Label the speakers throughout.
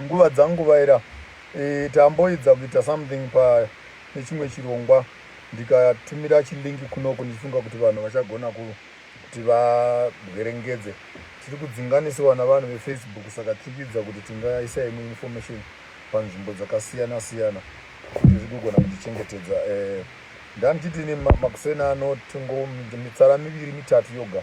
Speaker 1: Nguva dzangu vaera eh, tamboedza kuita something pa nechimwe chirongwa ndikatumira chilink kunoku ndichifunga kuti vanhu vachagona kuti vabwerengedze tiri kudzinganisiwa navanhu vefacebook saka tiri kuidza kuti tingaisa imwe information panzvimbo dzakasiyana siyana kuti zvigogona kutichengetedza eh, ndandichiti ini makuseni ano tingo mitsara miviri mitatu yoga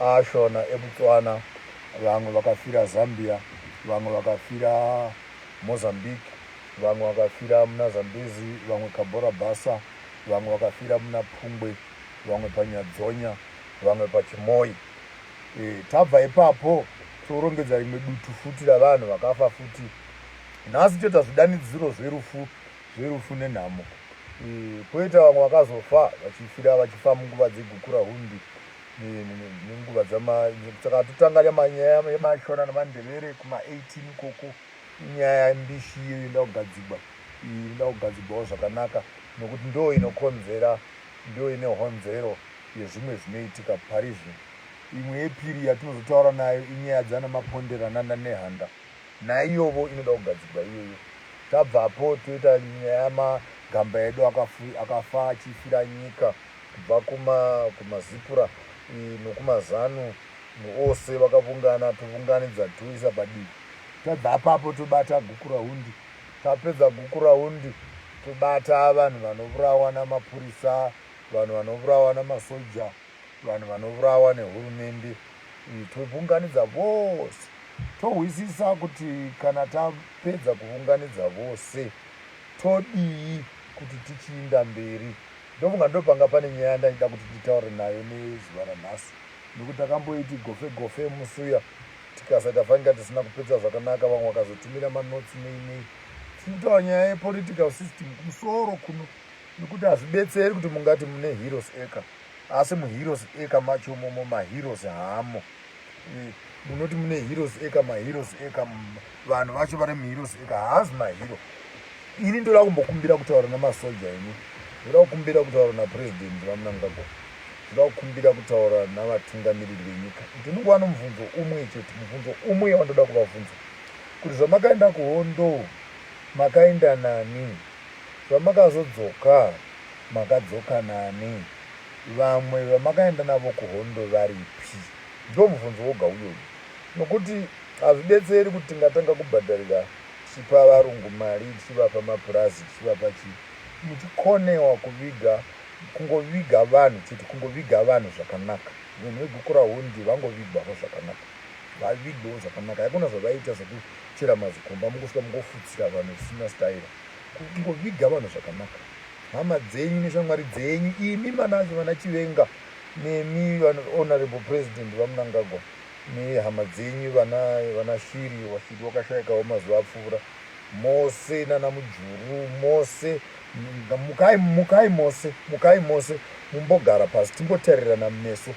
Speaker 1: aShona eBotswana, vamwe vakafira Zambia, vamwe vakafira Mozambique, vamwe vakafira muna Zambezi, vamwe Cabora Bassa, vamwe vakafira muna Phungwe, vamwe paNyadzonya, vamwe paChimoyi. E, tabva ipapo torongedza rimwe dutu futi ravanhu vakafa futi. Nhasi toita zvidanidziro zverufu zverufu nenhamo. E, poita vamwe vakazofa vachifira vachifa munguva dzegukura hundi nenguva saka totanga nyaya yemashona nemandevere kuma 18 ikoko inyaya mbishi iyo inoda kugadzigwa iyi inoda kugadzigwawo zvakanaka nokuti ndo inokonzera ndo ine honzero yezvimwe zvinoitika pari zvino imwe yepiri yatinozotaura nayo inyaya dzana mapondera nana nehanda Naiyovo inoda kugadzirwa iyoyo. Tabva apo toita nyaya yama gamba edu akafa achifira nyika kubva kuma kuma zipura nokuma zanu ose vakavungana tovunganidza toisa padivi. Tabva apapo tobata gukurahundi tapedza gukurahundi tobata vanhu vanovurawa namapurisa vanhu vanovurawa namasoja. Vanhu vanovurawa nehurumende iyi tobvunganidza vose tohwisisa kuti kana tapedza kuvunganidza vose todii kuti tichiinda mberi ndofunga ndopanga pane nyaya yandaida kuti titaure nayo nezuva ranhasi nekuti takamboiti gofe gofe musuya tikasa tafanika tisina kupedza zvakanaka vamwe vakazotumira manotsi nei nei tinitaura nyaya yepolitical system kumusoro kuno nekuti hazvibetseri kuti mungati mune heroes eka Asi mu heroes eka macho momo ma heroes haamo munoti mune heroes eka ma heroes eka vanhu vacho vari mu heroes eka haazi ma hero ini ndoda kumbokumbira kutaura namasoja ini ndoda kukumbira kutaura napresident vamunangagwa ndoda kukumbira kutaura navatungamiriri venyika ndinonguva nomubvunzo umwe chete mubvunzo umwe wandoda kuvabvunza kuti zvamakaenda kuhondo makaenda nani zvamakazodzoka makadzoka nani? Vamwe vamakaenda navo kuhondo varipi? Ndiwo mubvunzo woga uyoyu nokuti hazvibetseri kuti tingatanga kubhadharira tichipa varungu mari, tichivapa mapurazi, tichivapa chii muchikonewa kuviga kungoviga vanhu chete, kungoviga vanhu zvakanaka. Vanhu veGukurahundi vangovigwawo zvakanaka, vavigwewo zvakanaka. Haikuna zvavaita zvekuchera mazikomba mukosvika mukofutsira vanhu zvisina staira. Kungoviga vanhu zvakanaka hama dzenyu neshamwari dzenyu imi manacho vana chivenga nemi honorable president vamunangagwa nehama dzenyu vana vana shiri washiri wakashaikawo mazuva apfuura mose nana mujuru mose mukai mukai mose mukai mose mumbogara pasi timbotarirana meso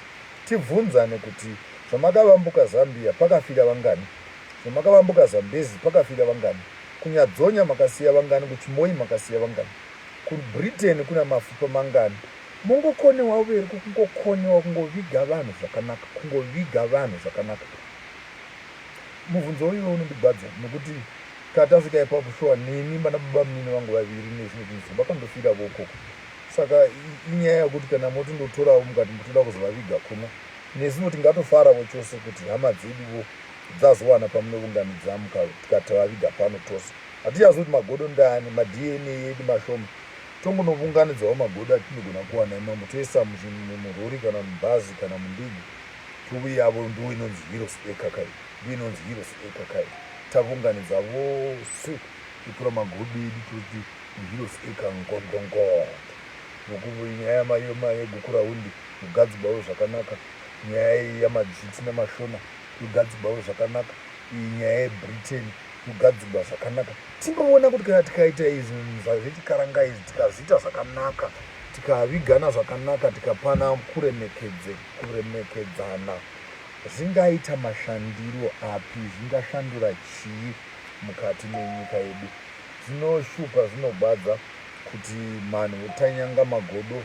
Speaker 1: tibvunzane kuti zvamakavambuka zambia pakafira vangani zvamakavambuka zambezi pakafira vangani Kunyadzonya makasiya vangani kuchimoyi makasiya vangani kubritain kuna mafupa mangani. Mongokonewa uveri ko kungokonewa kungoviga vanhu zvakanaka kungoviga vanhu zvakanaka muvhunzo uyo unondigwadza nokuti katasvika ipapo shuwa neni vana baba munini vangu vaviri nezvimwe zvinhu zvimwe vakandofira vokoko saka inyaya yokuti kana motondotorawo mukati mutoda kuzovaviga kuno nesuvo tingatofaravo chose kuti hama dzeduvo Dzazowana pamunovunganidza mukati tavaviga pano tose. Hatichazivi kuti magodo ndaani, maDNA edu mashoma. Tongonovunganidzawo magodo atinogona kuwana imomo toisa murori kana mubhazi kana mundigo tuvi yavo ndiwo inonzi Heroes Acre kai. Ndiyo inonzi Heroes Acre kai. Tavunganidza vose totora magodo edu toti muHeroes Acre ngongongongo nokuti nyaya yegukurahundi kugadzigwawo zvakanaka nyaya yamadzviti nemashona yogadzigwawo zvakanaka iyi nyaya yebritain yogadzigwa zvakanaka tinoona kuti kana tikaita izvi zvazvechikarangai izvi tikazviita zvakanaka tikavigana zvakanaka tikapana kuremekedzana zvingaita mashandiro api zvingashandura chii mukati menyika yedu zvinoshupa zvinogwadza kuti manhu votanyanga magodo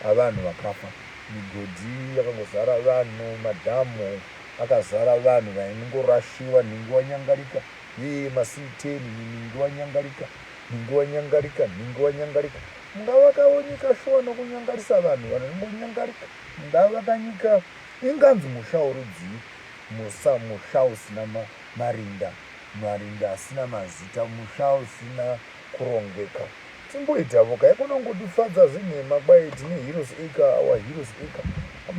Speaker 1: avanhu vakafa migodhi yakangozara vanhu madhamu Pakazara vanhu vaingorashiwa nhingi wanyangarika yee masii ten imi nhingi wanyangarika nhingi wanyangarika nhingi wanyangarika mungavakawo nyika shuwa nokunyangarisa vanhu vanongonyangarika mungavaka nyika inganzi musha worudzii musa musha usina marinda marinda asina mazita musha usina kurongeka timboitavo ka yekunongodifadza zvenhema kwaye tine heroes acre our heroes acre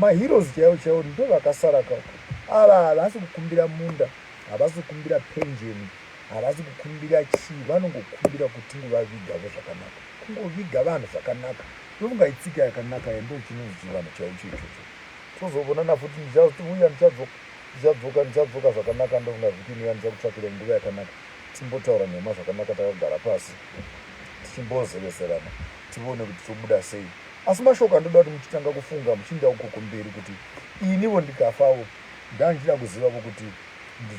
Speaker 1: maheroes chaivo chaivo ndo vakasara ka ava havasi kukumbira munda havasi kukumbira penjeni havasi kukumbira chii vanongokumbira kuti tingovavigavo zvakanaka kungoviga vanhu zvakanaka ndofunga itsika yakanaka yendo chinonzi chivanhu chaivo choichocho tozovonana futi ndichauya ndichadzoka ndichadzoka ndichadzoka zvakanaka ndofunga vhiki inoya ndichakutsvakira nguva yakanaka Timbotaura nhema zvakanaka takagara pasi tichimbozeveserana tione kuti tobuda sei. Asi mashoko andoda kuti muchitanga kufunga muchiinda uko kumberi kuti inivo ndikafavo ndanga ndichida kuzivavo kuti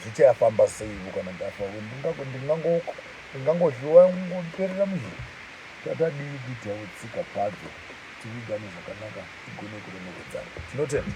Speaker 1: zvichayafamba seivo kana ndafavo ndingangohliwa ngoperera muzhiri tatadii kuitawo tsika padzo tivigane zvakanaka tigone kuremeredzana. Tinotenda.